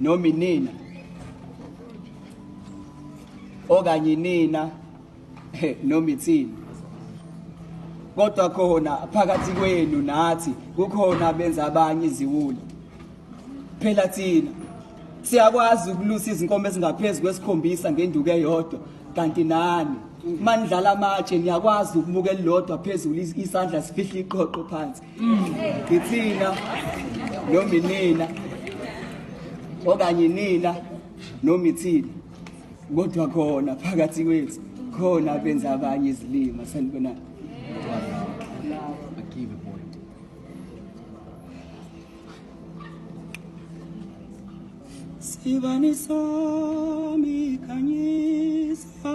noma inina okanye inina noma ithini kodwa khona phakathi kwenu nathi kukhona benza abanye iziwula phela thina siyakwazi ukulusa izinkomo ezingaphezu kwesikhombisa ngenduku eyodwa kanti nani manidlala amatshe niyakwazi ukumuka elilodwa phezulu isandla sifihle iqhoqho phansi ngithina noma inina okanye inina noma ithina kodwa khona phakathi kwethu khona benza abanye izilima sanibona Sivani sami kanyisa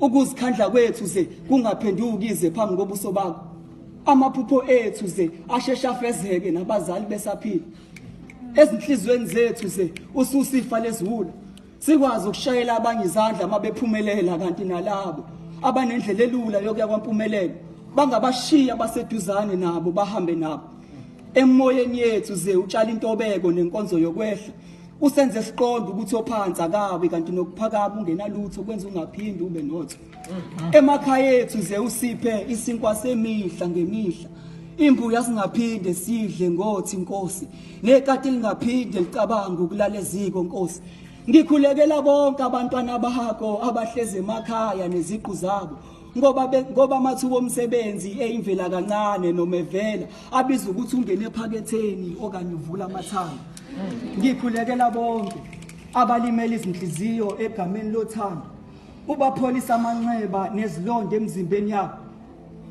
Ukuzikhandla kwethu ze kungaphenduki ize phambi kobuso bakho. Amaphupho ethu ze ashesha afezeke nabazali besaphila. Ezinhlizweni zethu ze ususifa leziwula. Sikwazi ukushayela abanye izandla mabephumelela kanti nalabo abanendlela elula yokuya kwampumelelo bangabashiya baseduzane nabo bahambe nabo. Emoyeni yethu ze utshala intobeko nenkonzo yokwehla Usenze siqonde ukuthi ophansi akabi kanti nokuphakama ungenalutho kwenza ungaphindi ube notho. Emakhaya ethu ze usiphe isinkwa semihla ngemihla. Imbuya singaphinde sidle ngothi inkosi nekati lingaphinde licabanga ukulala eziko nkosi. Ngikhulekela bonke abantwana bakho abahleze emakhaya neziqu zabo. ngoba ngoba amathuba omsebenzi eyimvela kancane noma evela abiza ukuthi ungene ephaketheni okanye uvula amathanga ngikhulekela bonke abalimela izinhliziyo egameni lothando ubapholisa amanxeba nezilonda emzimbeni yabo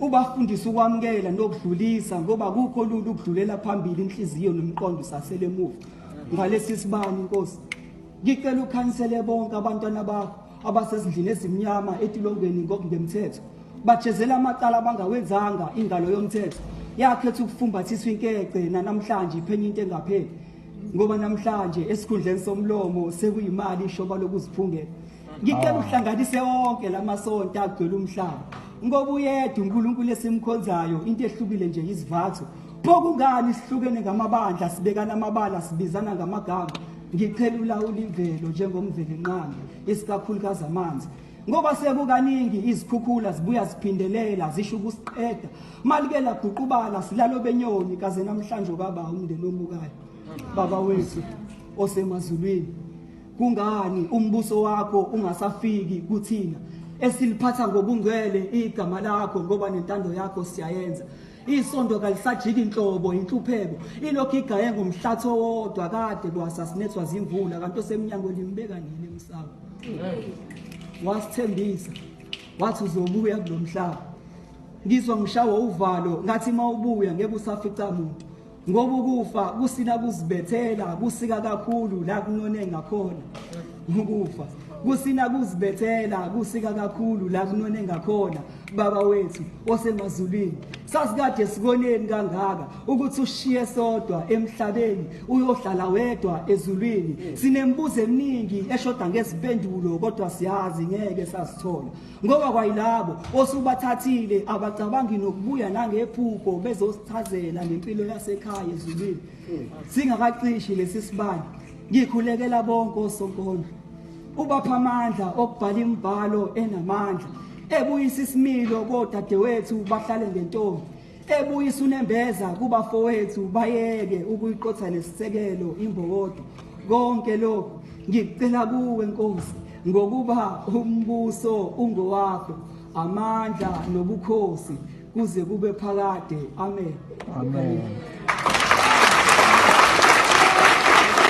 ubafundisa ukwamukela nokudlulisa ngoba kukho lula ukudlulela phambili inhliziyo nomqondo usasele emuva ngalesi sibani inkosi Ngicela ukhansele bonke abantwana bakho abasezindlini ezimnyama etilongweni ngokungemthetho bajezela amacala abangawenzanga ingalo yomthetho yakhetha ukufumbathiswa inkece nanamhlanje iphenya into engapheli ngoba namhlanje esikhundleni somlomo sekuyimali ishoba lokuziphungela ngicela ah. uhlanganise wonke lamasonto agcwele umhlaba ngoba uyedwa uNkulunkulu esimkhonzayo into ehlukile nje izivatho bokungani sihlukene ngamabandla sibekana amabala sibizana ngamagama Ngicela ulawula imvelo njengomvelinqangi isikakhulukazi amanzi ngoba sekukaningi izikhukhula zibuya ziphindelela zisho ukusiqeda malike laguqubala silalo benyoni kaze namhlanje baba umndeni omukayo baba wethu osemazulwini kungani umbuso wakho ungasafiki kuthina esiliphatha ngobungcwele igama lakho ngoba nentando yakho siyayenza Isonto kalisajiki inhlobo inhlupheko ilokhu igaye ngomhlathi owodwa kade kwasasinethwa zimvula kanti osemnyango limbeka nini emsamo wasithembisa wathi uzobuya kulomhlaba ngizwa ngishawa uvalo ngathi mawubuya ngeke usafica umuntu ngoba ukufa kusina kuzibethela kusika kakhulu la kunone ngakhona ukufa kusina kuzibethela kusika kakhulu la kunone ngakhona baba wethu osemazulwini sasikade sikoneni kangaka ukuthi ushiye sodwa emhlabeni uyohlala wedwa ezulwini sinembuzo eminingi eshoda ngezimpendulo kodwa siyazi ngeke sasithola ngoba kwayilabo osubathathile abacabangi nokubuya nangephupho bezosichazela ngempilo yasekhaya ezulwini singakacishi lesi sibani ngikhulekela bonke osonkondlo ubapha amandla okubhala imibhalo enamandla ebuyisa isimilo kodadewethu bahlale ngentombi ebuyisa unembeza kubafowethu bayeke ukuyiqotha lesisekelo imbokodo konke lokhu ngicela kuwe nkosi ngokuba umbuso ungowakho amandla nobukhosi kuze kube phakade amen amen